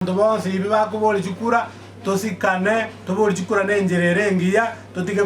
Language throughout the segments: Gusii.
Abanto bonsi ebi bakoboria chikura, tosikane, toborie chikura nenchera ere engiya, totige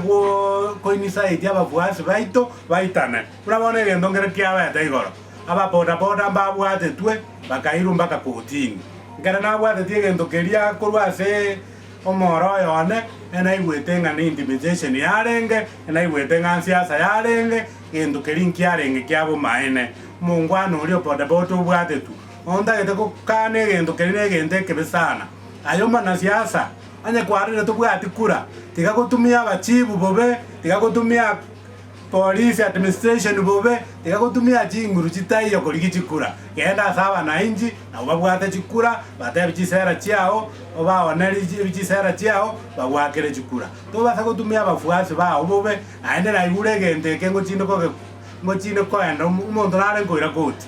koinisightia abafuasi baito baitane. Buna bono egento nkere kiabaete igoro, ababodaboda mbabwatetwe bakairwa mpaka kortini. Nkere nabwateti egento keria korwa ase omoro oyo one, enaigwete ng'a ne intimidation yarenge, enaigwete ng'a nsiasa yarenge, gento keria nkiarenge kia bomaene. Omongwana oria obodaboda obwatetwe. Ontagete gokana egento keria negento ekebe sana. Ayo manasiasa, onye kwarorire tobwati kura, tiga gotumia abachibu bobe, tiga gotumia police administration bobe, tiga gotumia chinguru chitaiyo korigia chikura. Genda ase abanainchi nabo babwate chikura, batebe chisera chiao, obaonere chisera chiao, bagwakere chikura. Tobasa gotumia abafuasi bao bobe, naende naigure egento eke ngochinde ngochinde koenda omonto nare nkoira koti.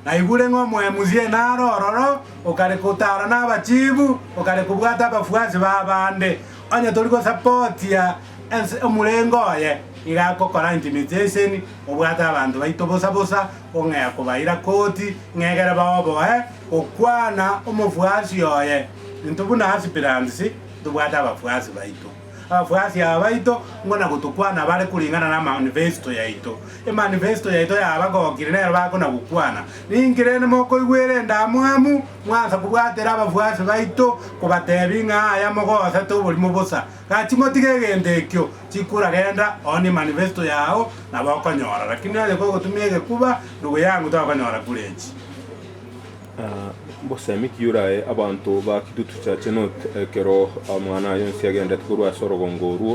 Naigure ng'a omoemusia ene are ororo, okareka otaara nabachiibu, okareka obwate abafuasi b'abande. Onye tori gosapotia ense omorengo oye, nigo agokora intimidation, obwate abanto baito bosa bosa, ong'ea kobaira koti, ng'a egere baoboe, gokwana omofuasi oye, Intwe buna aspirants, ntobwate abafuasi baito. Abafuasi aba baito ng'o na gotokwana bare koring'ana namanifesto yaito? Emanifesto yaito yabagokire nero bakona gokwana. Ninki rende mokoigwera endamwamu mwansa kobwatera abafuasi baito kobatebia ng'a aya mogosete oborimo bosa? Gaki motige egento ekio. Chikura genda one emanifesto yao nabo okonyora. Rakini onye kogotumia egekuba, ndugu yangu tokonyora kura echi. Mbosemi ki orae abanto ba kitutu kia Chenot ekero omwana aye onsi agendete korwa ase orogongo orwo?